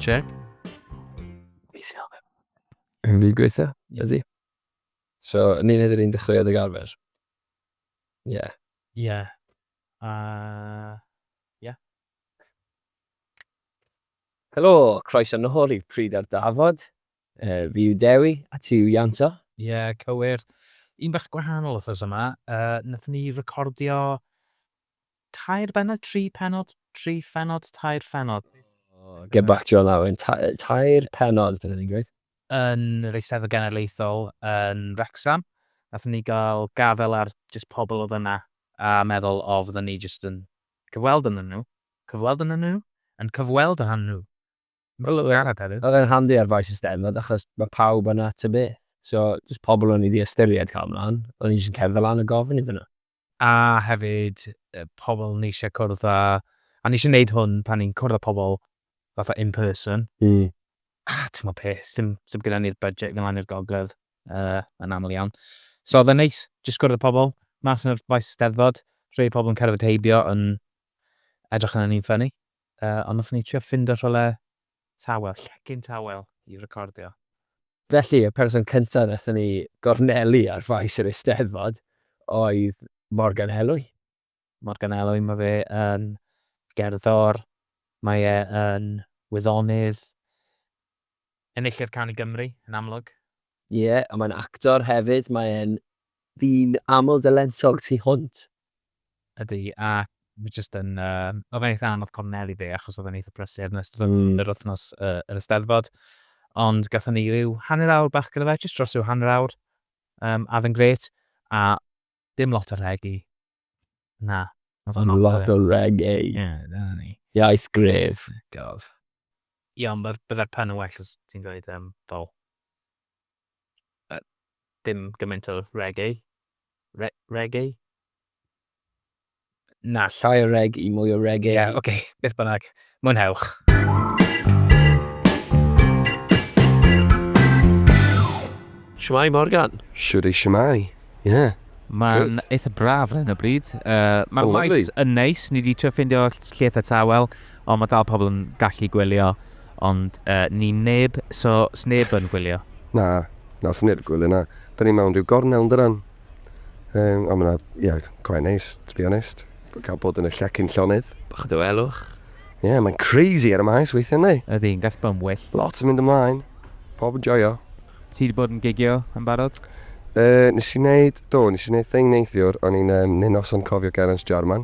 Check. Yn fi gweithio? Ydy. So, yn ni'n edrych i'n dechreuodd ag arfer? Ie. Yeah. Ie. Yeah. Uh, yeah. Helo, croeso nôl i Pryd ar Dafod. Yy, fi yw Dewi, a ti yw Ianto. Ie, cywir. Un bach gwahanol wthnos yma, yy, nathon ni recordio tair bennod, tri pennod, tri phennod, tair phennod. O, get back to you on that one. Ta- yy, tair pennod, beth o'n i'n gweud? yn yr Eisteddfod Genedlaethol yn Wrecsam. Nathon ni gael gafel ar jyst pobl oedd yna a meddwl, o, fydden ni jyst yn cyfweld ynnyn nhw, cyfweld ynnyn nhw, yn cyfweld â nhw. Wel oedd e arall hefyd. Oedd e'n handi ar faes y steddfod achos mae pawb yna ta beth. So jyst pobl o'n i 'di ystyried cael mlaen, o'n i jyst yn cerdded lan a gofyn iddyn nhw. A hefyd pobl o'n i eisiau cwrdd â, a o'n i eisiau neud hwn pan o'n i'n cwrdd â pobl fatha in person. A timod be, sdim gyda ni'r budget i fynd lan i'r gogledd yn aml iawn. So oedd e'n neis jyst cwrdd â pobl mas ar faes y steddfod, rhei pobl yn cerdded heibio yn edrych arnon ni'n ffyni. Yy, ond nathon ni trio ffindo rhywle tawel, llecyn tawel i recordio. Felly, y person cynta nathon ni gornelu ar faes yr Eisteddfod oedd Morgan Elwy. Morgan Elwy, ma' fe yn gerddor, mae e yn wyddonydd, Enillydd Can i Gymru, yn amlwg. Ie, ond mae'n actor hefyd, mae e'n ddyn aml dalentog tu hwnt. Ydy, a mae jyst yn, yym, oedd e'n eitha anodd cornel i fi achos oedd e'n eitha prysur yn ystod yr wythnos yr Eisteddfod, ond gathon ni ryw hanner awr bach gyda fe, jyst dros ryw hanner awr, yym, a oedd e'n grêt, a dim lot o rhegi. Na. Mae'n lot o reggae. Ie, dyna ni. Iaith gref. Gof. Ie, ond byddai'r pen yn well os ti'n dweud um, fel... Uh, dim gymaint o reggae. Re reggae? Na, llai o reg i mwy o reggae. Ie, yeah, oce, okay. beth bynnag. Mwynhewch! Shwmae Morgan? Shwdi shwmae. Ie. Mae'n eitha braf ar hyn o bryd. Mae'r maes yn neis, ni wedi trio ffindio lle eitha tawel, ond mae dal pobl yn gallu gwylio, ond ni neb, so sneb yn gwylio. Na, na sneb yn gwylio na. Da ni mewn rhyw gornel yn dydan? Um, ond mae'n, ie, yeah, quite nice, to be honest. Cael bod yn y llecyn llonydd. Bach o dywelwch. Ie, yeah, mae'n crazy ar y maes weithio ni. Ydy, yn gall bod yn well. Lot yn mynd ymlaen. Pob yn joio. Ti wedi bod yn gigio yn barod? Uh, nes i wneud, do, nes i wneud thing neithiwr, o'n i'n um, neu noson cofio Gerans Jarman.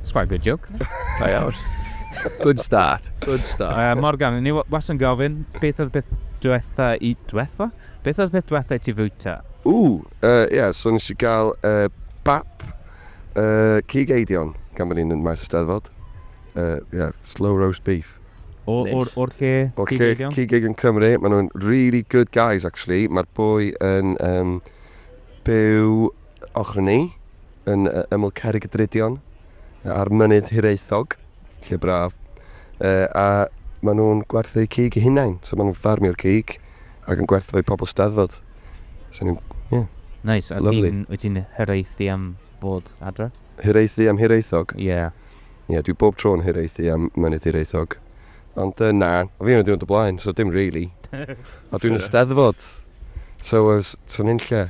It's quite a good joke. Da iawn. Good start. Good start. Uh, Morgan, ni was yn gofyn, beth oedd beth diwetha i... Diwetha? Beth oedd beth diwetha i ti fwyta? O, ie, yeah, so nes i gael uh, bap uh, cig eidion gan bod ni'n maes ysteddfod. Uh, yeah, slow roast beef. O'r nice. or, lle O'r lle cig eidion Cymru. Maen nhw'n really good guys, actually. Mae'r boi yn um, byw ochr ni, yn ymyl Cerrig y Drudion, ar Mynydd Hiraethog, lle braf, a maen nhw'n gwerthu cig eu hunain, so maen nhw'n ffarmio'r cig ac yn gwerthu fo i pobl Steddfod. So nhw'n, ie. Neis, a ti'n, wyt ti'n hiraethu am bod adre? Hiraethu am Hiraethog? Ie. Yeah. Ie, yeah, dwi bob tro yn hiraethu am Mynydd Hiraethog. Ond uh, na, o fi yn y diwrnod y blaen, so dim really. a dwi'n y Steddfod, so os ti'n unlle.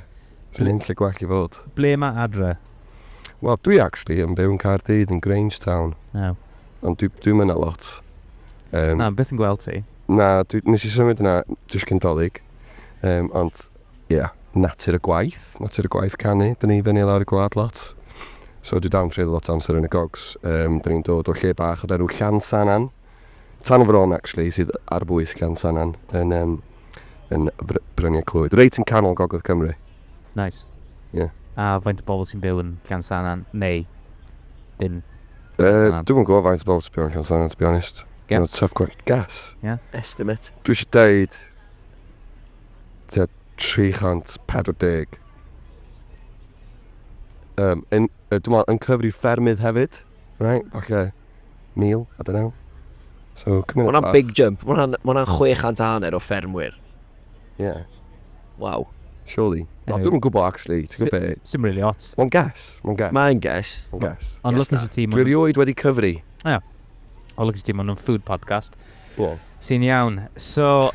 Sy'n un lle gwell i fod. Ble mae adre? Wel, dwi actually yn byw yn Caerdydd yn Grangetown. Iaw. Ond dwi, dwi'n mynd a lot. Um, Na, beth yn gweld ti? Na, dwi, nes i symud yna, dwi'n cyn dolyg. Um, ond, ie, yeah, natur y gwaith, natur y gwaith canu. Dyn ni fyny lawr y gwlad lot. So dwi dan treulio lot amser yn y gogs. Um, dyn ni'n dod o lle bach o'r enw Llansanan. Tan fron, actually, sydd ar bwys Llansannan yn, um, yn Bryniau Clwyd. Reit yn canol gogledd Cymru. Nice. Yeah. A faint o bobl sy'n byw yn Llansannan, neu dim? Uh, Dwi'n yn gwybod faint o bobl sy'n byw yn Llansannan, to be honest. Guess? No, tough question. Guess? Yeah. Estimate. Dwi eisiau deud... Tua 340. Um, yn, uh, dwi'n meddwl, yn cyfri ffermydd hefyd. Right, falle mil, I don't know. So, Mae hwnna'n bach. big jump. Mae hwnna'n ma 600 a hanner o ffermwyr. Yeah. Waw. Surely. Anyway. Dwi'n gwybod, actually. Ti'n gwybod beth? Sim really ots. Mae'n gas. Mae'n gas. Mae'n gas. Mae'n gas. Ond lwcus i ti... Dwi'n rioed wedi cyfri. Ia. O, lwcus i ti, maen nhw'n food podcast. Wel. Sy'n iawn. So,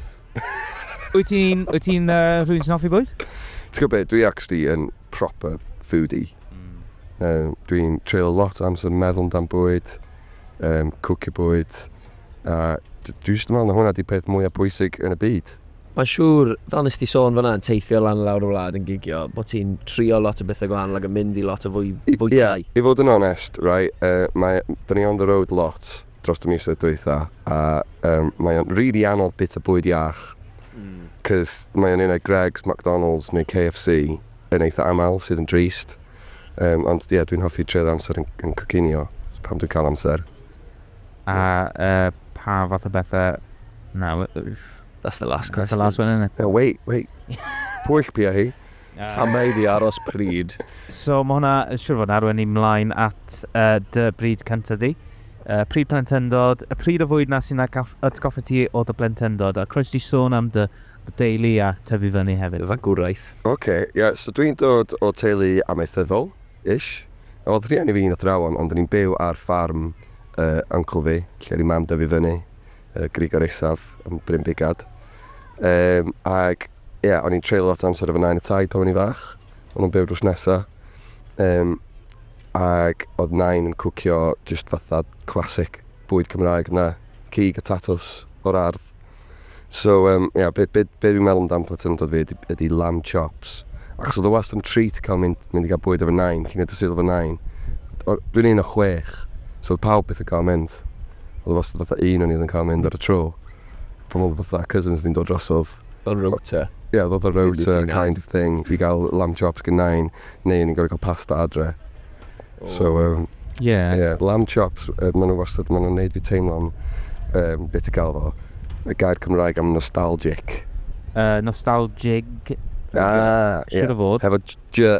wyt ti'n, wyt ti'n uh, rhywun sy'n hoffi bwyd? Ti'n gwybod beth, dwi actually yn proper foodie. Mm. Uh, dwi'n treulio lot o amser meddwl amdan bwyd, um, cwcio bwyd, a dwi eisiau meddwl na hwnna di peth mwyaf pwysig yn y byd. Mae'n siŵr, fel nes ti sôn fanna, yn teithio lan y lawr y wlad yn gigio, bod ti'n trio lot o bethau gwahanol ac yn mynd i lot o fwy, fwytau. Ie, yeah, i fod yn onest, right, uh, mae, dyn ni on the road lot, dros y misoedd dwytha, a um, mae o'n rili really anodd bita bwyd iach, mm. cys mae o'n un o'r Greggs, McDonald's neu KFC yn eitha aml sydd yn drist. Um, ond ie, yeah, dwi'n hoffi treu'r amser yn, yn cocinio, pam dwi'n cael amser. A uh, pa fath o bethau... No, that's the last question. That's the last one, isn't it? No, wait, wait. Pwyll pia hi. A mae iddi aros pryd. So mae hwnna, siwr fod arwen ni mlaen at uh, dy bryd cyntaf di. Uh, pryd plentyndod, y pryd o fwyd na sy'n atgoffa ti o dy blentyndod. A croes di sôn am dy, dy deulu a tyfu fyny hefyd. Fagwraeth. Oce, okay, ie, yeah, so dwi'n dod o teulu amaethyddol, ish. Oedd rhieni fi yn athrawon, ond ni'n byw ar ffarm uh, uncle fi, lle ni mam dyfu fyny, uh, Grigor Isaf, yn Bryn Bigad. Um, ac Ie, o'n i'n treulio lot o amser efo Nain a Taid pan o'n i'n fach. O'n nhw'n byw drws nesa. Um, ac oedd Nain yn cwcio just fatha classic bwyd Cymraeg na, cig a tatws o'r ardd. So, um, yeah, be, be, be dwi'n meddwl amdan plentyndod fi ydy, ydy lamb chops. Achos oedd o wast yn treat cael mynd, mynd i gael bwyd efo Nain, cyn edrych sydd efo Nain. Dwi'n un o chwech, so oedd pawb beth yn cael mynd. Oedd o wast fatha un o'n i oedd yn cael mynd ar y tro. Pan oedd fatha cousins ni'n dod drosodd, Fel rota? Ie, fel fel rota kind of thing i gael lamb chops gen Nain, neu o'n i'n gorfod cael pasta adre. So yym... Ie. ...ie, lamb chops, yy maen nhw wastad, maen nhw'n wneud fi teimlo'n yym, be ti'n galw fo, y gair Cymraeg am nostalgic? Yy, nostalgic? Ah, ie. Siŵr o fod. Hefo j-j-?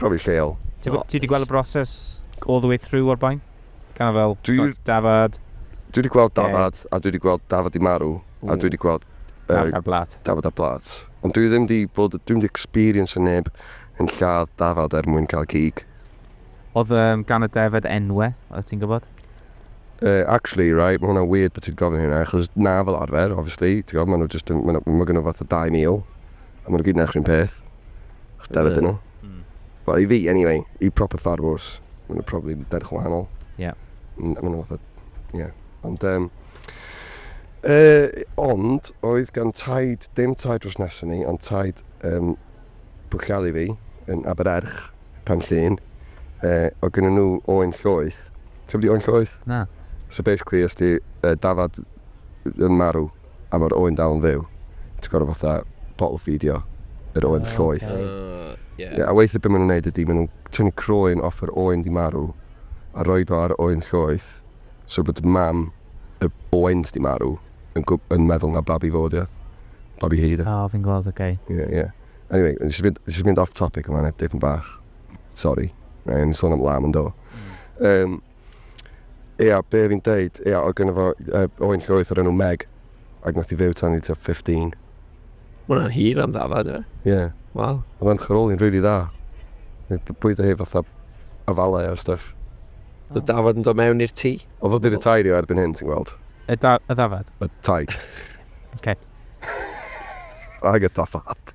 profi lleol. Ti 'di gweld y broses all the way through o'r blaen? Kind of fel, t'mod, dafad... Dwi 'di gweld dafad, a dwi 'di gweld dafad 'di marw, a dwi 'di gweld... Marw ar blât. ...dafad ar blât. Ond dwi ddim 'di bod, dwi'm 'di experiencio neb yn lladd dafad er mwyn cael cig. Oedd um, gan y defaid enwe, oedd ti'n gwybod? Uh, actually, right, mae hwnna'n weird bod ti'n gofyn hynna, achos na fel arfer, obviously, ti'n gwybod, maen nhw just, maen nhw, maen nhw fath o 2,000, a maen nhw gyd yn eich rhywun peth. Dyna dyn nhw. Mm. Well, i fi, anyway, i proper farmers, maen nhw'n probably berch yn wahanol. Ie. Yeah. Maen nhw'n fath o... Ie. Ond... Um, uh, ond, oedd gan taid, dim taid dros nesyn ni, ond taid um, bwchialu fi yn Abererch, pan llun, uh, o gyda nhw oen llwyth. Ti'n di oen llwyth? Na. So basically, os di uh, dafad yn marw, A ma'r oen dal yn fyw. Ti gor'o' fatha bottle feedio yr oen llwyth. O oce. Ie. Ie a weithie be' ma' nw'n neud ydi ma' nw'n tynnu croen off yr oen 'di marw a roid o ar y oen llwyth so bod mam y oen s'di marw yn gwb- yn meddwl na babi fo 'di o. Babi hi 'di o. O fi'n gweld oce. Ie ie. Anyway o'n i jys mynd jys mynd off topic yn fan 'na dipyn bach. Sori. O'n i'n sôn am lamb yndo? Yym. Ia, be fi'n deud, ia, oedd gynno fo uh, oen llwyth o'r enw Meg, ac nath i fyw tan i tua 15. Mae hwnna'n hir am ddafad, e? Ie. Yeah. Waw. Oedd o'n chyroli'n rili dda. Bwyd o hi fatha afalau a stuff. Oedd dafod yn dod mewn i'r tŷ? Oedd o di retairio erbyn hyn, ti'n gweld? Y, da, y ddafad? Y taig. okay. Ag y dafad.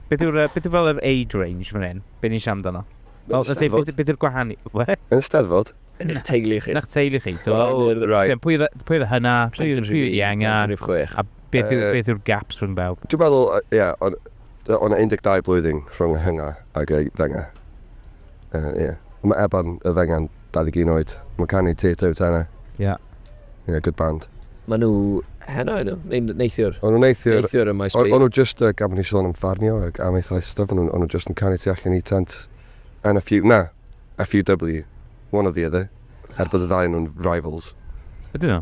Beth yw'r, beth yw fel yr age range fan hyn? Be ni'n siarad amdano? Fel, let's say, beth, beth yw'r gwahaniaeth? Be? Yn steddfod? Yn eich teulu chi? Yn eich teulu chi? So, oh, right. so, pwy oedd y hynna? Pwy oedd y ienga? A beth yw'r beth yw gaps rhwng bawb? Dwi'n meddwl, ie, yeah, ond o'n 12 blwyddyn rhwng y hynga ac y ddynga. Uh, yeah. Mae Eban y Fengan, 21 oed. Mae'n canu Teatr yw tenau. Yeah. Yeah, good band. Mae nhw heno nhw, neu neithiwr? O'n nhw neithiwr. Neithiwr y maes O'n nhw just, uh, gafon ni sôn am farnio ac am eithaf stuff, o'n nhw just yn canu tu allan i tent. And a few, na, a few W, one or the other. Er bod y ddau nhw'n rivals. Ydyn nhw?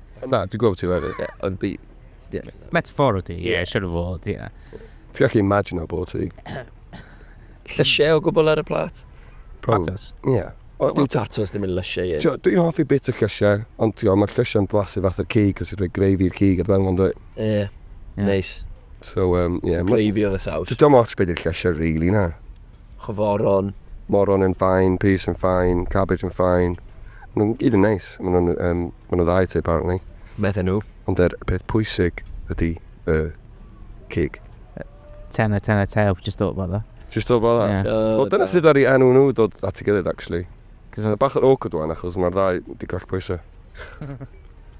Na, dwi'n gwybod ti wedi, ie, ond fi... Ie. Metafor ydi, ie, yeah. siwr o fod, ie. Yeah. Fi ac imagine o bod ti. Llysiau o gwbl ar y plat? Tatos. Ie. Yeah. Dwi'n tatos ddim yn llysiau i. Tio, dwi'n hoffi bit y llysiau, ond tio, mae'r llysiau'n blasu fath o'r cig, os yw'n rhoi greifi i'r cig, ar ben o'n dweud. Ie, neis. So, um, ie. Yeah, greifi oedd y saws. Dwi'n dweud ots beth i'r llysiau, really, na. Chwforon. Moron yn fine, peas yn fine, cabbage yn fine. Maen nhw'n gyd yn neis. Maen nhw'n yym maen nhw'n dda i ti apparently. Medden nhw. Ond yr peth pwysig ydi y cig. Tenner, tenner, tail, just thought about that. Just thought about that? Ie. Wel dyna sut ddaru enw nhw dod at ei gilydd actually. Mae bach yn awkward wan achos mae'r ddau 'di collpwyso.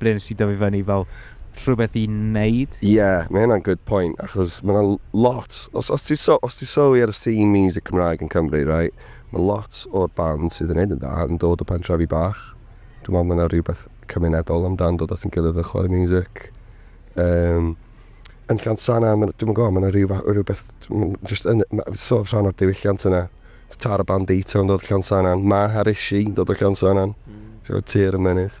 ble nes ti dyfu fyny fel rhywbeth i neud? Ie, mae hynna'n good point, achos mae 'na lot, os os ti so- os ti'n sylwi ar y scene miwsig Cymraeg yn Cymru, reit, mae lot o'r bands sydd yn neud yn dda yn dod o pentrefi bach. Dwi'n meddwl mae 'na rywbeth cymunedol amdan dod at ein gilydd a chwarae miwsig. Yym, yn Llansannan, ma' 'na, dwi'm yn gwybod, mae 'na ryw fath o rywbeth, m- jyst yn, ma', sort of rhan o'r diwylliant yna. Tara Bandito yn dod o Llansannan, Maher Issue yn dod o Llansannan, so tir y mynydd.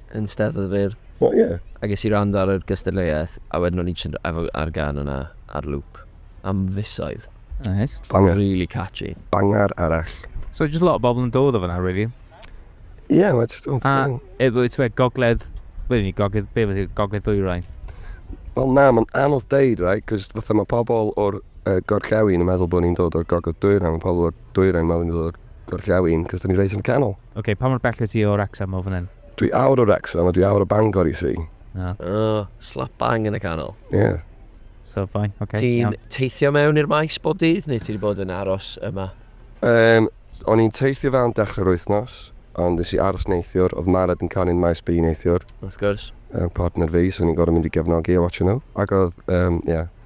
yn Steddfod yr Urdd. O ie? A ges i rand ar yr gystadleuaeth, a wedyn o'n i jyst efo ar gan yna ar loop am fisoedd. Nice. Banger. Really catchy. Banger arall. So just lot o bobl yn dod o fyna, really? Ie, yeah, mae just... A, e, wyt ti'n gogledd... Be ni, gogledd... Be wedi gogledd ddwyrain? Wel na, mae'n anodd deud, right? Cos fatha mae pobl o'r uh, gorllewin yn meddwl bod ni'n dod o'r gogledd dwyrain, mae pobl o'r dwyrain mawr yn dod o'r gorllewin, cos 'da ni reit yn y canol. Ok, pa mor bell wyt ti o Wrecsam o fan hyn? Dwi awr o Wrecsam a dwi awr o Bangor i si. O. O, slap bang yn y canol. Ie. So, fine, ok, Ti'n iawn. teithio mewn i'r maes bob dydd, neu ti wedi bod yn aros yma? Yym, o'n i'n teithio fe am dechrau'r wythnos, ond nes i aros neithiwr, oedd Mared yn canu'n maes B neithiwr. Wrth gwrs. Yym, partner fi, so o'n i'n gorfod mynd i gefnogi a watsio nhw. Ac oedd, yym, ie.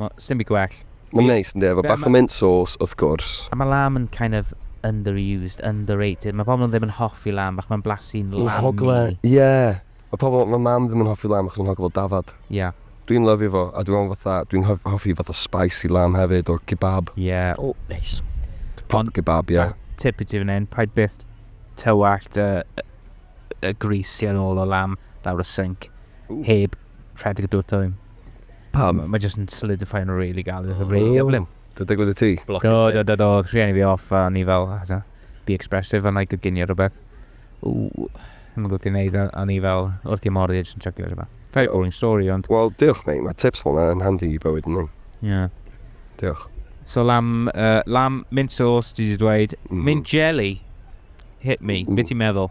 Mae, sdim byd gwell. Mae'n neis, yndi, efo bach o mint sauce, wrth gwrs. A mae lamb yn kind of underused, underrated. Mae pobl ddim yn hoffi lamb achos mae'n blasu'n lammy. Mae'n hogle, ie. Mae pobl, mae mam ddim yn hoffi lamb achos mae'n hogle fel dafad. Ie. Dwi'n lyfio fo, a dwi meddwl fatha, dwi'n hoffi fatha spicy lamb hefyd, or kebab. Ie. O, neis. Proper kebab, ie. Tip i ti fan hyn, paid byth tywallt y grease yn ôl o lamb lawr y sinc, heb rhedeg y dŵr dwym. Pam? Mae jyst yn solidify yn really galed, yn really gyflym. Dwi'n digwydd y ti? Do, do, do, do, rhieni fi off a ni fel, hasa, be expressive and like a ginio rhywbeth. Ww, yn mynd gwybod i'n neud, a ni fel, wrth i mor edrych yn chuckio fe rhywbeth. Very boring story, ond... Wel, diolch, mate, mae tips fel yna yn handi i bywyd yn ni. Yeah. Diolch. So lam, uh, lam mint sauce, ti wedi dweud, mm. mint jelly, hit me, mm. beth i'n meddwl?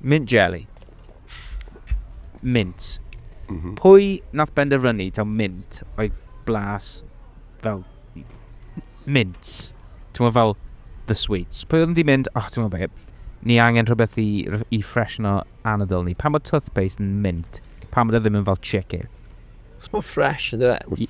Mint jelly. Mint. Mm -hmm. Pwy nath benderfynu taw mint oedd blas fel mint? Ti'n meddwl fel the sweets. Pwy oedd yn di mynd, oh, ti'n meddwl beth, ni angen rhywbeth i, i ffresno anadl ni. Pan mae toothpaste yn mint, pan mae ddim yn fel chicken. Os mae'n fresh, ydy fe?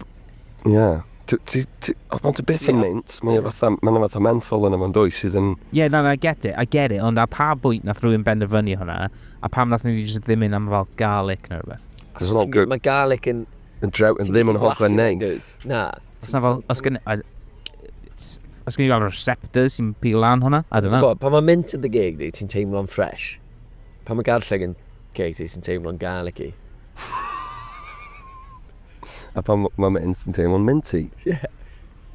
Ie. Ti, ti, ti, os mae'n ti beth yn mynd, mae'n yeah. fatha, mae'n fatha menthol yna fo'n dwy sydd yn... Ie, yeah, na, na, I get it, I get it, ond a pa bwynt nath rwy'n benderfynu hwnna, a pam nath ni jyst ddim yn am fel garlic neu rhywbeth? Cos it's not good. Mae garlic yn... Yn drew, yn ddim yn hoff yn neis. Na. Os na fel, os gen... Os gen i fel receptors sy'n pil lan hwnna, I don't know. Pan mae mint yn dy geg di, ti'n teimlo'n ffres. Pan mae garlleg yn ceg ti, ti'n teimlo'n garlicky. A pan m- mae Mints yn teimlo'n minty. Ie.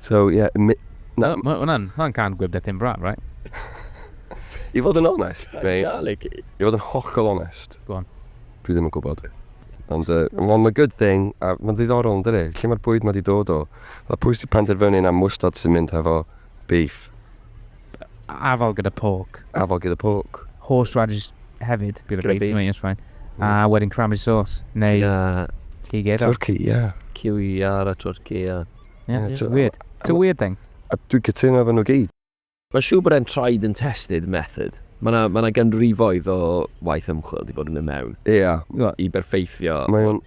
So, ie, mi- na. Mae hwnna'n, hwnna'n cân gwib Bethin Brân, right? I fod yn onest, mate... Garlic. I fod yn hollol onest... Go on. ...dwi ddim yn gwybod. Ond yy, ond ma' good thing, a ma'n ddiddorol yn dydi? Lle ma'r bwyd ma' di dod o? Fatha pwy sy' di penderfynu na mwstard sy'n mynd hefo beef? Afal gyda pork. Afal gyda pork. Horse radish hefyd, gyda beef, beef. Yes, fine. A wedyn cranberry sauce, neu Na. lliged. Turkey, ie. Yeah. Kiwi ar a turkey, ie. Yeah. Yeah, yeah. It's weird. It's a weird thing. A dwi'n cytuno efo nhw gyd. Mae'n siŵr bod e'n tried and tested method. Mae yna ma ganrifoedd o waith ymchwil wedi bod yn mynd mewn. Ie. Yeah. I berffeithio. Mae'n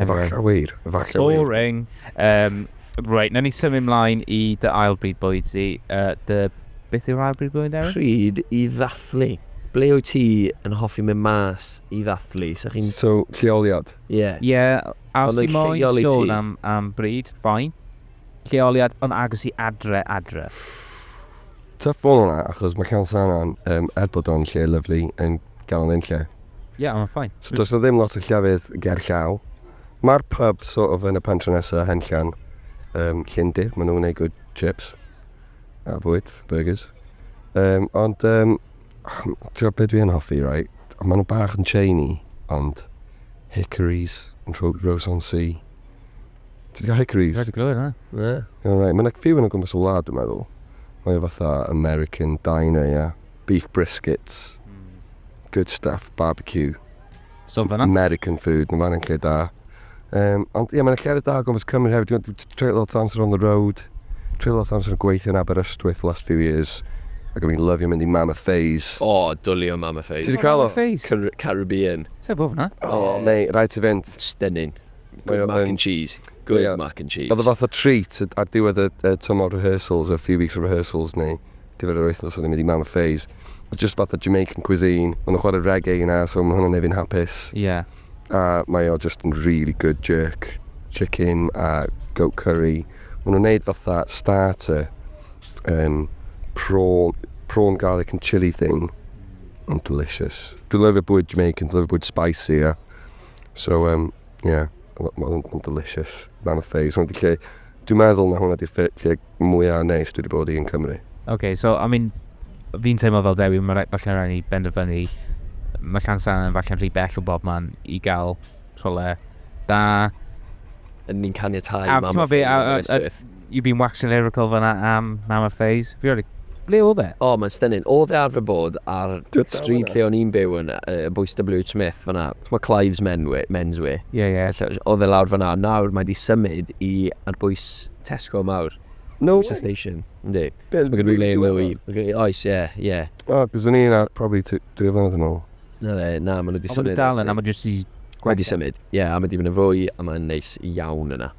Efallai wir, efallai wir. Boring. Um, right, na ni symud mlaen i dy ail bryd bwyd di. Uh, dy... Beth yw'r ail bryd bwyd, Erin? Pryd i ddathlu. Ble wyt ti yn hoffi mynd mas i ddathlu? So chi'n... So, lleoliad? Ie. Yeah. Ie, yeah, a os ti moyn sôn am, am bryd, ffain. Lleoliad yn agos i adre, adre. Tough one yna, achos mae Llan Sannan, yym, er bod o'n lle lyfli, yn galon unlle. Ie, ond mae'n fine. So does 'na ddim lot o llefydd ger llaw. Mae'r pub sort of yn y pentre nesa, Henllan, yym, Llyndir, maen nhw'n gwneud good chips a bwyd, burgers. Yym, ond, yym, ti'n be dwi yn hoffi, right? Ond maen nhw bach yn chainy, ond Hickories, Rho- Rhos-on-Sea, Ti wedi cael hickories? Dwi wedi clywed hwnna. Ie. Iawn, reit. Mae yna few yn o gwmpas y wlad, dwi'n meddwl. Mae o fatha American diner, ia. Beef briskets. Hmm. Good stuff, barbecue. So fanna? American food, mae fanna'n lle da. Um, ond ie, yeah, mae'n llefydd da o gwmpas Cymru hefyd. Dwi'n treulio lot o amser on the road. Treulio lot o amser yn gweithio yn Aberystwyth last few years. Ac o'n i'n lyfio mynd i Mam a Ffeis. O, oh, dwli o Mam a Ffeis. Ti wedi cael o? Caribbean. Sef bob na? O, oh, mei, rhaid ti fynd. Stunning. Good mac and cheese. Good mac and cheese. Oedd y fath o treat ar diwedd y, y tymor rehearsals, a few weeks of rehearsals neu diwedd yr wythnos oedd yn mynd i Mammoth Phase. Oedd just fath o Jamaican cuisine. Ond nhw'n chwarae reggae yna, so mae hwnna'n nefyn hapus. Yeah. A mae o just yn really good jerk, chicken a goat curry. Mae nhw'n neud fatha starter, um, prawn, prawn garlic and chili thing. Ond delicious. Dwi'n lyfio bwyd Jamaican, dwi'n lyfio bwyd spicy, yeah. So um, yeah, ma' ma' hwn yn delicious. Man of phase. Hwn di lle, dwi'n meddwl na hwnna di'r lle mwyaf neis dwi wedi bod i yn Cymru. OK, so I mean, fi'n teimlo fel Dewi, mae falle'n rhaid ni benderfynu, mae Llansan yn falle'n rhy bell o bob man i gael rhywle da. Yn ni'n caniatau mam a ffeis. You've been waxing lyrical fanna am Nana Faze. Fi rioed 'di... Ble odd e? O, mae'n stunning. Odd e arfer bod ar stryd lle o'n i'n byw yn bwys WH Smith fanna. T'mo' Clive's men's wear? Ie, ie. Odd e lawr fanna. Nawr mae 'di symud i ar bwys Tesco mawr. No way! Bwys y station. Yndi. Be'? So ma' gen i le mwy... Oes, ie, ie. O, 'c'os o'n i 'na probably t- dwy flynedd yn ôl. Na fe, na, ma' nw 'di symud. Ond ma' nw dal yna, ma' jyst 'di... Mae 'di symud. Ie, a ma' 'di myn' yn fwy a mae'n neis iawn yna.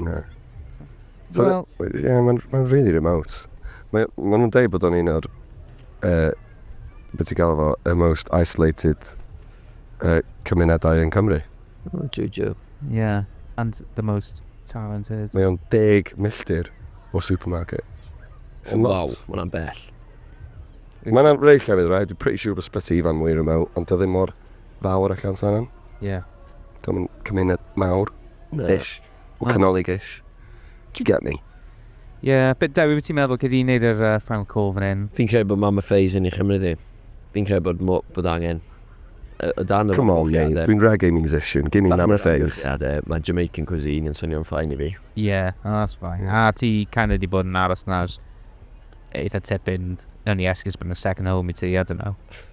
Na. So, well, ie, yeah, mae'n ma really remote. Mae ma nhw'n dweud bod o'n un o'r, uh, beth ti'n gael fo, y most isolated uh, cymunedau yn Cymru. Oh, Juju. Yeah, and the most talented. Mae o'n deg milltir o supermarket. It's oh, wow, mae hwnna'n bell. Mae'n rhaid llefydd, right? Dwi'n pretty sure bod Sbyty Ifan mwy remote, ond dydyn mor fawr allan sa'n am. Ie. Cymru, cymuned mawr. No. Ish. O canolig ish. Do you get me? Ie, yeah, bit Dewi, beth ti'n meddwl? Gyd i'n neud yr uh, final call fan hyn? Fi'n credu bod mam y ffeis yn ei chymryd i. Fi'n credu bod, mo, bod angen y, y dan y Come on, ie. Dwi'n reggae musician. Gimme mam y ffeis. Mae Jamaican cuisine yn swnio'n ffain i fi. Ie, yeah, oh, that's fine. Yeah. A ti kind of di bod yn aros na'r eitha tipyn yn i esgus bod yn second home i ti, I don't know.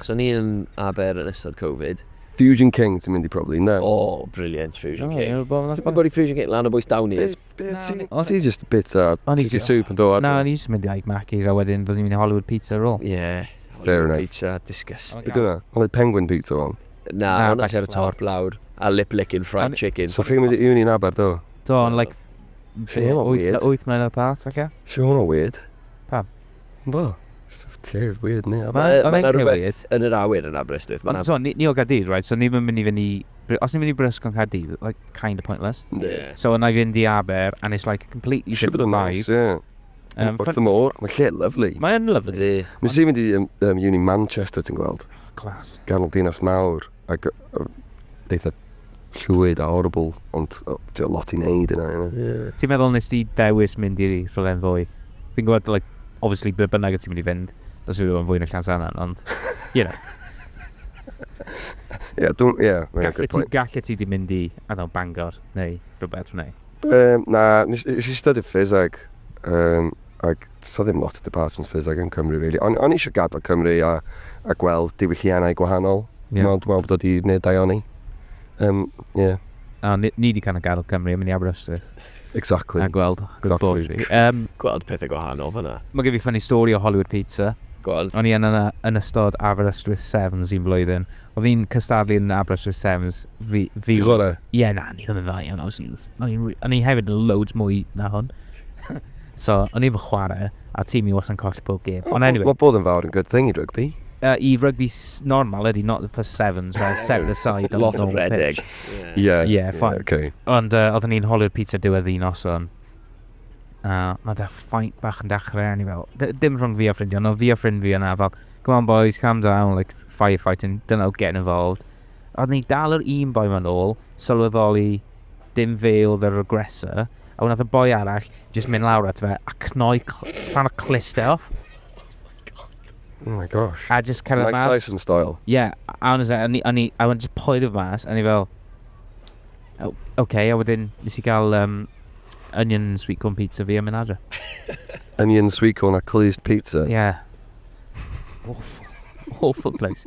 Achos o'n i yn Aber yn ystod Covid. Fusion King ti'n mynd i probably, ynde? O, brilliant Fusion King. Ti'n gwybod i Fusion King, lan o bwys dawn i. Ti jyst yn bwyta chicken soup yn do adra. Na, o'n i jyst yn mynd i Ike Mackey's a wedyn ro'n i'n mynd i Hollywood Pizza ar ôl. Ie, Hollywood Pizza, disgusting. Be dyna? Ond oedd Penguin Pizza fel? Na, hwnna sy ar y top lawr. A lip licking fried chicken. So chi'n mynd i uni yn Aber do? Do, ond like wyth mlynedd yn y past falle. Sut mae hwnna'n weird? Pam? Bo, stwff llef, weird ni. Mae yna rhywbeth rhywbeth yn yr awyr yn Aberystwyth. Mae Ond so, ni, ni o Gaerdydd, right? So ni'n mynd i fynd i... Os ni'n mynd i Brysg o'n Caerdydd, like, kind of pointless. Yeah. So yna i fynd i Aber, and it's like a completely Siwr different vibe. Nice, yeah. Um, Wrth y môr, mae lle lyflu. Mae'n lyflu. Nes i fynd i um, um, uni Manchester, ti'n gweld? Clas. Ganol dinas mawr. ac eitha llwyd a horrible, ond ti efo lot i neud yna, you know. Ti'n meddwl nes di dewis mynd i rhywle yn fwy? Fi'n gwybod, like, obviously ble bynnag y ti'n mynd i fynd, bys rhywle yn fwy na Llansannan, ond, you know. Ie, dwi'n, ie, mae'n good point. Gallet ti di mynd i, I don't know, Bangor, neu rhywbeth, neu? Um, na, nes i studio ffys ag, um, ag Does 'na ddim lot o departments ffiseg yn Cymru rili. O'n o'n i isio gadael Cymru a a gweld diwylliannau gwahanol. Ie. Me'wl dwi me'wl bod o 'di neud da iawn i. Yym ie. A ni ni 'di kind of gadel Cymru a mynd i Aberystwyth. Exactly. A gweld good bore fi. Yym. Gweld pethe gwahanol fan 'na. Ma' gen fi funny story o Hollywood Pizza. Go on. O'n i yna na- yn ystod Aberystwyth Sevens un flwyddyn. Odd un cystadlu yn Aberystwyth Sevens fi fi... Ti gore? Ie na o'n i ddim yn dda iawn I was youth. O'n i wi- o'n i hefyd yn loads mwy na hwn. So, o'n i efo chware, a tîm i wasa'n colli pob gêm. Ond anyway. Mae bod yn fawr yn good thing i rygbi. I rygbi normal ydy, not the first sevens, where it's set aside on the normal pitch. Lot o redeg. Ie. Ie, fine. Ok. Ond uh, oeddwn ni'n holi'r pizza diwedd un noson. A uh, mae da ffaint bach yn dechrau, ni fel, dim rhwng fi a ffrind ond fi a ffrind fi yna fel, come on boys, calm down, like firefighting, don't know, getting involved. Oeddwn ni dal yr un boi ma'n ôl, sylweddoli Dim fe oedd yr aggressor, a wnaeth y boi arall jyst mynd lawr at fe a cnoi rhan o clust e off. Oh my gosh. A just cyrraedd mas. Mike Tyson style. Yeah, honestly, o'n i, o'n i, I just poerio mas, o'n i fel, oh, okay, a wedyn nes i gael um, onion sweet corn pizza fi a mynd adre. onion sweet corn a clust pizza? Yeah. Awful. Awful place.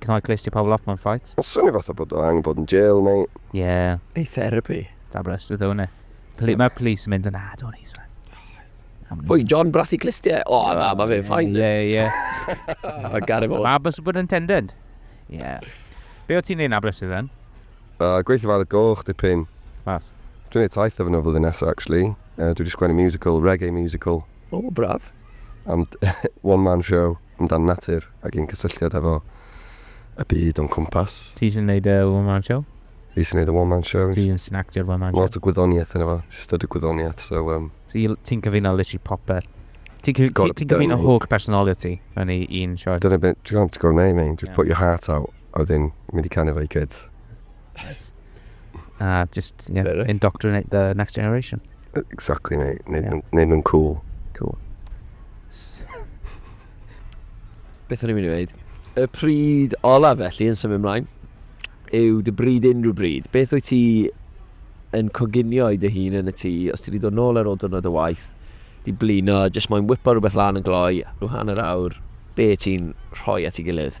Can I clear you pobl off mewn fight? Swnio fatha bod o angen bod yn jail neu... Ie. Ei therapy. Da brys, dwi ddown e. Pli, mae police yn mynd yn ad o'n eisfa. Pwy, John Brathu Clistiau? O, oh, na, mae fe'n ffain. Ie, ie. Mae gari fod. Mae bus bod yn tendent. Ie. Be o ti'n neud na brys iddyn? Uh, gweithio fel y goch, dipyn. Mas. Dwi'n neud taith efo nhw flwyddyn nesaf, actually. Uh, dwi wedi sgwennu musical, reggae musical. O, oh, braf. Am one-man show. Amdan natur ac ein cysylltiad efo y byd o'n cwmpas. Ti sy'n neud y one man show? Fi sy'n neud y one man show. Ti sy'n actio'r one man show? Ma lot o gwyddoniaeth yno fo. Fi studied gwyddoniaeth so yym. So you, ti'n cyfuno literally popeth. Ti'n cy- Gotta ti'n be done, cyfuno mate. holl personality yn ei un sioe. Dyna be, ti'n gwbod, ti'n gor'o' neud mate, just put your heart out a wedyn mynd i canu efo your kids. Yes. A just, yeah, Fair enough. indoctrinate the next generation. Exactly, mate. Neud nhw'n- neud nhw'n cool. Cool. S- Beth o'n i'n mynd i wneud? Y pryd olaf felly yn symud ymlaen yw dy bryd unrhyw bryd. Beth wyt ti yn coginio i dy hun yn y tŷ os ti wedi dod nôl ar ôl diwrnod o waith, di blino, jyst moyn whipo rhywbeth lan yn gloi, rhyw hanner awr, be ti'n rhoi at ei gilydd?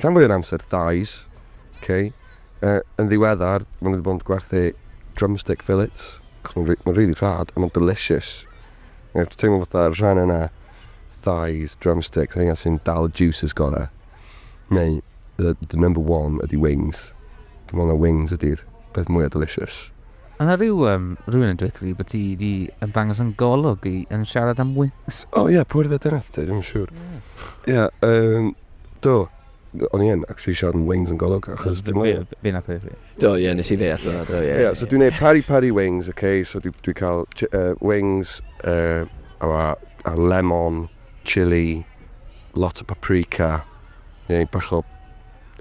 rhan fwy o'r amser thighs, okay. Uh, yn ddiweddar, maen nhw wedi bod yn gwerthu drumstick fillets, cos mae'n ma really rhad, a mae'n delicious. Mae'n yeah, teimlo fatha rhan yna thighs, drumsticks, hynny sy'n dal y juices gorau. Neu, the, the number one ydy wings. Dwi'n meddwl na wings ydy'r peth mwyaf delicious. Mae yna rhyw um, rhywun yn dweud fi bod ti wedi ymddangos yn golwg i yn siarad am wings. O ie, pwy'r ddedynaeth ti, ddim yn siŵr. Ie, yeah, um, do. O'n i yn actually siarad yn wings yn golwg, achos dim ond... Fe nath e fi. Do, ie, nes i ddeall yna, do, ie. Ie, so dwi'n neud pari pari wings, oce, okay? so dwi'n dwi cael uh, wings, uh, a, a lemon, chili, lot o paprika, neu bach o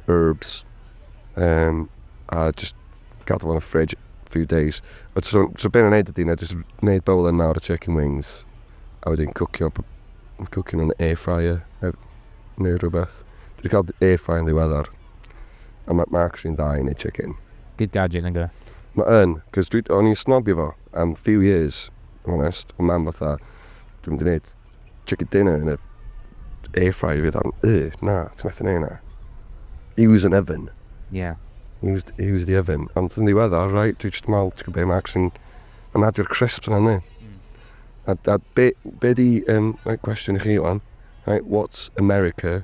herbs, um, a just gadw fo'n y fridge few days. But so, so be' o'n i'n neud ydi na jyst neud bowl yn mawr o chicken wings a wedyn cwcio b- cwcio nhw'n air fryer neu neu rhywbeth. Dwi 'di ca'l air fryer yn ddiweddar a ma' ma' actually'n dda i neud chicken. Good gadget nag yw e? Ma' yn, 'cos dwi o'n i'n snobio fo am few years, if I'm honest. O' mam fatha, dwi'm 'di neud chicken dinner yn y air fryer fydd o'n, y, na, ti'n methu neud na. Use an oven. Yeah. Use, use the oven. Ond yn ddiweddar, right, dwi just mal, ti'n gwybod, Max yn, yn adio'r crisps yna, ni. Mm. A, a be, be di, um, right, cwestiwn i chi, Iwan, right, what's America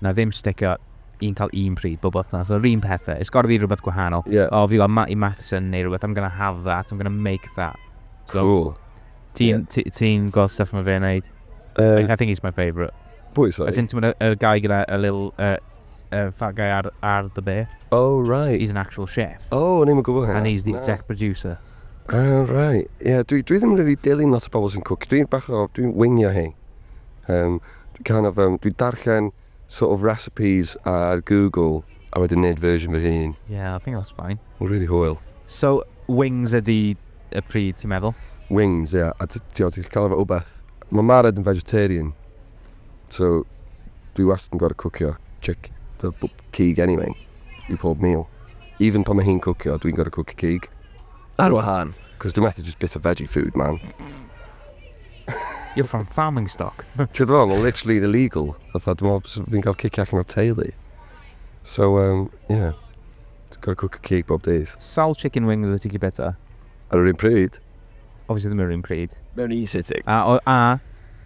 Na ddim sticio un cael un pryd bob wythnos yr un pethe. It's gotta be rhywbeth gwahanol. Ie. O fi fel Matty Matheson neu rhywbeth I'm gonna have that, I'm gonna make that. So, Cŵl. Ti'n Ie. ti- ti'n gweld stuff mae fe'n neud? Yym, I think he's my favourite. Pwy As sori? in ti'n gwybod y y guy gyda y little uh, uh, fat guy ar ar the bear? Oh right. He's an actual chef. Oh, o'n i'm yn gwybod hynna. And he's the Na. exec producer. Ah, right. Ie, dwi dwi ddim yn rili dilyn lot o bobl sy'n cwcio. Dwi'n bach o... Dwi'n wingio hyn. Yym. kind of yym dwi'n darllen sort of recipes ar Google a wedyn neud version fy hun. Yeah, I think that's fine. Ma'n rili hwyl. So, wings ydi y pryd ti'n meddwl? Wings, ie. A ti ti'n gallu cael o efo wbath. Mae Mared yn vegetarian so dwi wastad yn gorfod cwcio chick- yy b- cig anyway i pob meal. Even pan mae hi'n cwcio dwi'n gorfod cwcio cig. Ar wahân. Cos dwi methu jyst bwyta veggie food man. You're from farming stock. Ti wbod be ma literally yn illegal fatha dwi me'wl bysa fi'n ga'l cicio allan o'r teulu. So yym ie. Ti gor'o' cwcio cig bob dydd. Sawl chicken wing oeddet ti'n gallu byta? Ar yr un pryd? Obviously ddim ar yr un pryd. Mewn un sitting. A o- a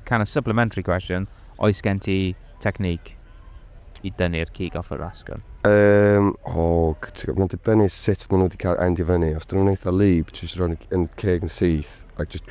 kind of supplementary question, oes gen ti technique i dynnu'r cig off yr asgwrn? Yym o g- ti- ma'n dibynnu sut ma' nw 'di ca'l end i fyny. Os 'dyn nw'n eitha lib ti jyst roid yn ceg yn syth a jyst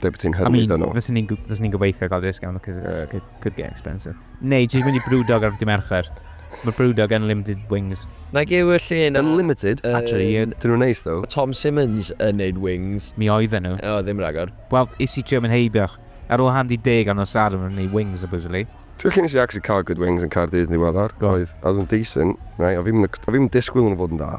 Ble bod ti'n hyrwyddo nhw? I mean, fyswn ni'n ni gobeithio cael discount, because uh, could, could get expensive. Neu, jyst mynd i Brewdog ar fy Mercher. Mae Brewdog Unlimited Wings. Na gyw y llun... Unlimited? Uh, Actually, uh, dyn nhw'n neis, ddo. Tom Simmons yn neud wings. Mi oedd nhw. O, ddim ragor. Wel, is i trio mynd heibioch. Ar ôl handi deg ar nos ar yn neud wings, supposedly. Dwi'n chi'n eisiau actually cael good wings yn Cardydd yn ddiweddar. Oedd, oedd yn decent, right? O fi'n disgwyl nhw'n fod yn dda.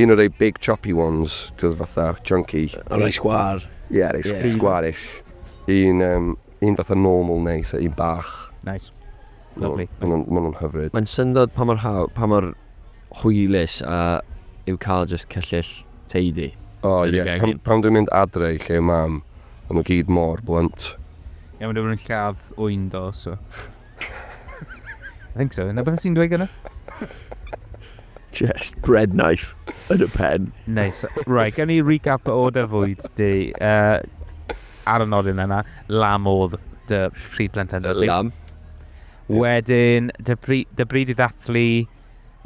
Un o rei big choppy ones, t'od fatha chunky. Yr rei sgwâr. Ie, rei sgwarish. Un yym, un fatha normal neis a un bach. Nice. Lovely. Ma' nhw'n, ma' nhw'n hyfryd. Mae'n syndod pa mor haw- pa mor hwylus a yw cael jyst cyllyll teidi. O ie, pan pan dwi'n mynd adre i lle mam, ma' nhw gyd mor blunt. Ie, ma' nhw ddim yn lladd ŵyn ddo, so. I think so. Na beth sy'n dweud gyda? Just bread knife yn y pen. Nice. Right, gen i recap o dy fwyd di. Uh, ar y nodyn yna, lam oedd dy pryd plentendod. Lam. Wedyn, dy, bri, dy bryd i ddathlu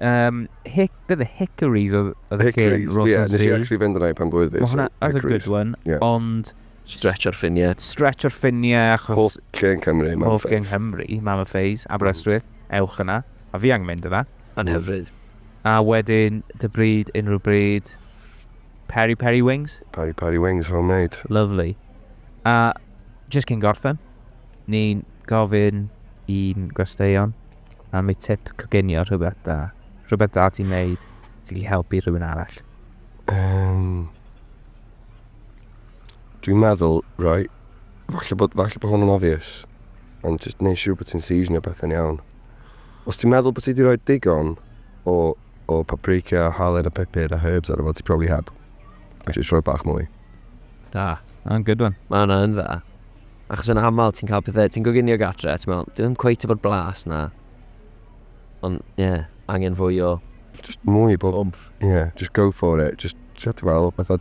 um, hic, bydd y Hickories oedd y lle Hickories, ie. Nes i actually fynd yna i pan blwyddyn. Mae hwnna, that's a good one. Yeah. Ond Stretch ar ffiniau. Stretch ar ffiniau achos... Hoff lle yn Cymru, Mam a Pheis. Hoff lle yn Nghymru, Mam a Pheis, Aberystwyth, ewch yna. A fi angen mynd yna. Yn hyfryd. A wedyn, dy bryd, unrhyw bryd, Peri Peri Wings? Peri Peri Wings, homemade. Lovely. A jyst cyn gorffen, ni'n gofyn i'n gwesteion am eu tip coginio rhywbeth da. Rhywbeth da ti'n neud sy'n gallu helpu rhywun arall. Yym... Dwi'n meddwl, right, falle bod, falle bod hwn yn obvious, ond jyst neud siŵr bod ti'n seasonio pethau'n iawn. Os ti'n meddwl bod ti wedi rhoi digon o, o paprika, halen a pepper a herbs ar efo, ti probably heb. A jyst rhoi bach mwy. Da. Mae'n good one. Mae hwnna yn dda. Achos yn aml ti'n cael pethau, ti'n goginio gatre, ti'n meddwl, dwi'n cweith efo'r blas na. Ond, ie, yeah, angen fwy o... Just mwy bob... Umf. Ie, yeah, just go for it. Just, ti'n meddwl, bethau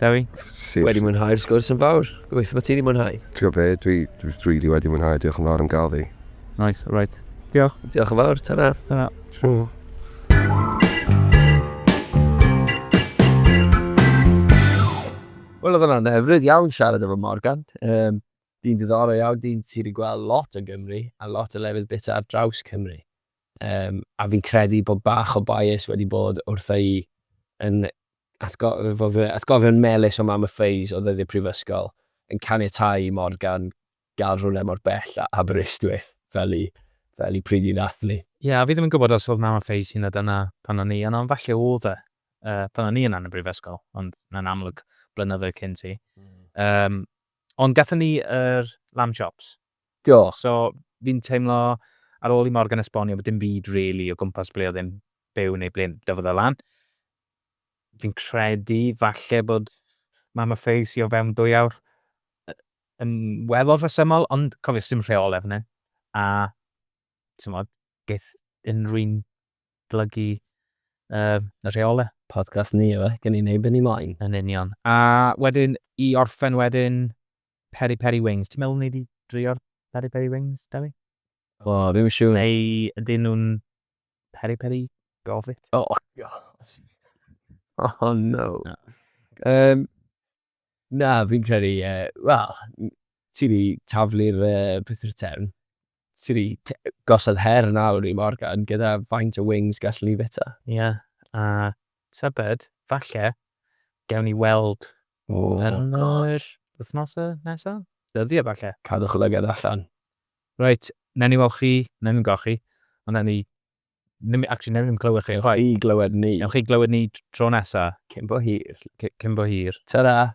Dewi? Sir. Wedi mwynhau'r sgwrs yn fawr. Gobeithio bod ti wedi mwynhau. Ti'n gwybod be, dwi, dwi really wedi mwynhau, diolch yn fawr am gael fi. Nice, alright. Diolch. Diolch yn fawr, ta-ra. Ta-ra. Sure. Wel, oedd hwnna'n hyfryd iawn siarad efo Morgan. Um, dyn diddorol iawn, dyn sydd wedi gweld lot o Gymru a lot o lefydd bit ar draws Cymru. Yym, a fi'n credu bod bach o bias wedi bod wrtha i yn atgofio fy atgofion melys o Mam a Phase o ddyddiau prifysgol, yn caniatáu i Morgan gael rhywle mor bell â Aberystwyth fel i, fel i pryd i ddathlu. Ie, a fi ddim yn gwybod os oedd Mam a Phase hynod yna pan o'n i yno, falle oedd e, yy, pan o'n i yna yn y brifysgol, ond mae'n amlwg blynyddoedd cynt i. Yym, ond gathon ni yr lamb chops, Diolch. So, fi'n teimlo, ar ôl i Morgan esbonio bod dim byd rili o gwmpas ble oedd e'n byw neu ble dyfodd e lan, fi'n credu falle bod Mam a Fei sy o fewn dwy awr yn weddol rhesymol, ond cofiwch, sdim rheolau fan hyn, a timod, geith unrhyw un blygu y rheolau. Podcast ni yw e, gawn ni wneud be ni moyn. Yn union. A wedyn, i orffen wedyn, Peri Peri Wings. Ti'n meddwl wnei di drio'r Peri Peri Wings, Dewi? O, fi'n yn siŵr. Neu ydyn nhw'n Peri Peri Gofit? O, oh, gosh. Oh, no. no. Um, na, fi'n credu, uh, wel, ti wedi taflu'r uh, peth rhytern. tri. Gosod her yn awr i Morgan gyda faint o wings gallwn ni fita. Ie, a tybed, falle, gewn ni weld yn yr wythnosau nesaf? Dyddiau, falle? Cadwch lygad allan. Reit, newn ni weld chi, newn ni'm gweld chi, ond newn ni ddim, actually, newn ni ddim clywed chi chwaith. Newn chi glywed ni. Newn chi glywed ni tro nesaf. Cyn bo hir. Cyn bo hir. Tara!